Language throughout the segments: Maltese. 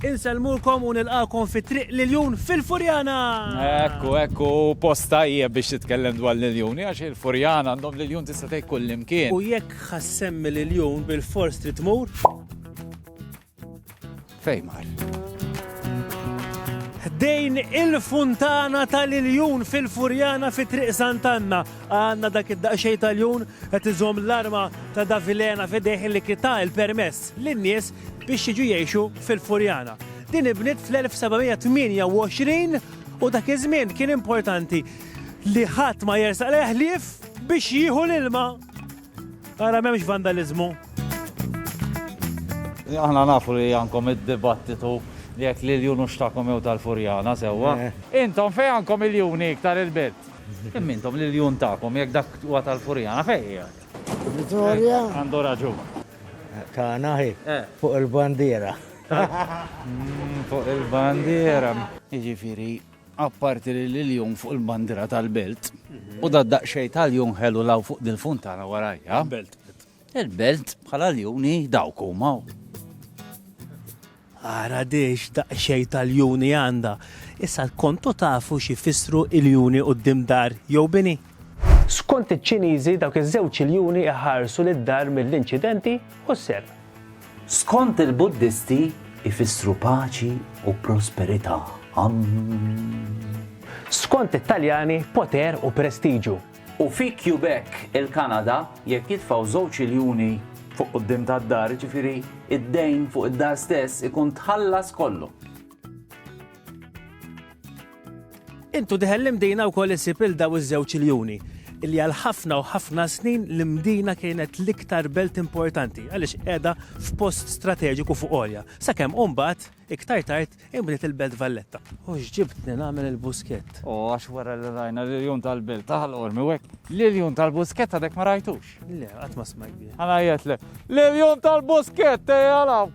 Insellmukom u nilqakom fi triq l-iljun fil-Furjana! Ekku, ekku, posta hija biex titkellem dwar l-iljun, għax il-Furjana għandhom l-iljun tista' tgħid kull imkien. U jekk ħassemmi l-iljun bil-fors trid tmur? Fejn mar? Ħdejn il-funtana tal-iljun fil-Furjana fi Triq Santanna. Għanna dak id-daqxej tal-jun qed iżom l-arma ta' Davilena fidejh li kita il-permess lin-nies biex jiġu jgħixu fil-Furjana. Din ibnit fl-1728 u dak iż-żmien kien importanti li ħadd ma jersaq leħlief biex jieħu l-ilma Ara m'hemmx vandaliżmu. Aħna nafu li għandkom id-dibattitu jekk l-iljun hux tagħkom jew tal-Furjana sewwa. Intom fejn għandkom iljuni iktar il-belt? Imma intom l-iljun tagħkom jekk dak huwa tal-Furjana fejn qiegħed? Vitorja. Għandu raġun. Tagħna hi. Fuq il-bandiera. Fuq il-bandiera. Jiġifieri Apparti li l-iljun fuq il-bandira tal-belt, u da daqxej tal-jun ħelu law fuq dil-funtana warajja. Il-belt. Il-belt bħala l-juni dawk huma. Ara diex daqxej tal-juni għanda. Issa kontu tafu xi fissru il-juni u d-dimdar jew bini? Skont iċ-Ċiniżi dawk iż-żewġ iljuni jħarsu lid-dar mill-inċidenti u s-serq. Skont il-Buddisti jfissru paċi u prosperità. Amm. Skont it-Taljani poter u prestiġu. U fi Quebec, il-Kanada, jekk jitfgħu żewġ iljuni fuq quddiem tad-dar, jiġifieri d-dejn fuq id-dar stess ikun tħallas kollu. Intu diħel l-imdina u koll isib il-daw iż-żewġ iljuni illi għal ħafna u ħafna snin l-Mdina kienet l-iktar belt importanti għaliex qiegħda f'post strateġiku fuq olja. Sakemm umbat, iktar tard imbniet il-Belt Valletta. U x'ġibtni nagħmel il-buskett. U għax wara li rajna li l-jum tal-belt taħal ormi wek, li l-jum tal-buskett għadek ma rajtux. Le, qatt ma smajt bi. Għana jgħetlek, li l-jum tal-buskett eh, għalaw.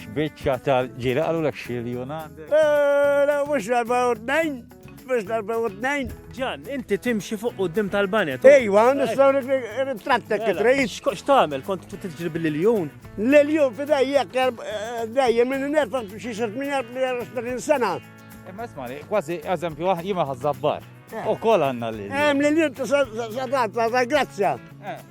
X'biċċa tal-ġiri qalulek xilju għandek? Eh, mhux darba u tnejn, mhux darba u tnejn. Ġan, inti timxi fuq quddiem tal-banet. Ejwa, nistgħu nitrattek it-trejn. X'tagħmel kont tiġri bil-iljun? L-iljun fidej jekk eh, dejjem minn nerfa xi 38 sena. Imma ismani, kważi eżempju ah, jima ħazzabbar. Eh. U kol għanna l-iljun. Hemm l-iljun ta' grazzja. Eh.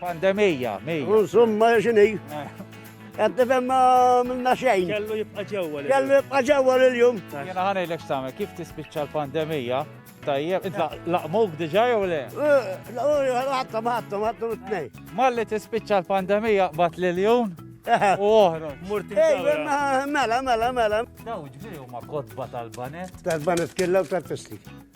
Pandemija, mija. Insomma, xini. Għed nifem minna xejn. Kellu jibqa ġewwa. Kellu jibqa ġewwa l-jum. Jena ħana il same, kif tispiċċa l-pandemija? Tajjeb, inta laqmuk diġa jew le? Eh, ħatta, ħatta, ħatta t-nej. Malli tispiċċa l-pandemija bat l-jum? Eh. U oħra. Murti. Mela, mela, mela. Daw ġbiju ma kodba tal-banet. Tal-banet killa u tal-festi.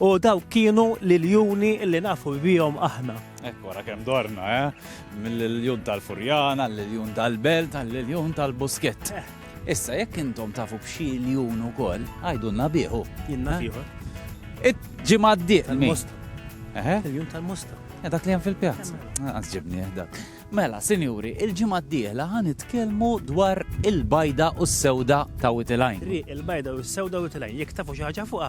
U dawk kienu l-iljuni li nafu bihom aħna. Ekku, għara kem dorna, eh? Mill-iljun tal-Furjana, l-iljun tal-Belt, l-iljun tal-Buskett. Eh. Issa, jekk intom tafu b'xi iljun u koll, għajdunna biħu. Jinna eh? biħu. Ġimma d-diq. Tal-Mosta. Eh? Iljun tal-Mosta. Eh, dak li għan fil-pjazza. Għazġibni, dak. Mela, sinjuri, il-ġimgħa d-dieħla ħan nitkellmu dwar il-bajda u s-sewda ta' Witilajn. Il-bajda u s-sewda Witilajn, jekk tafu xi ħaġa fuqha,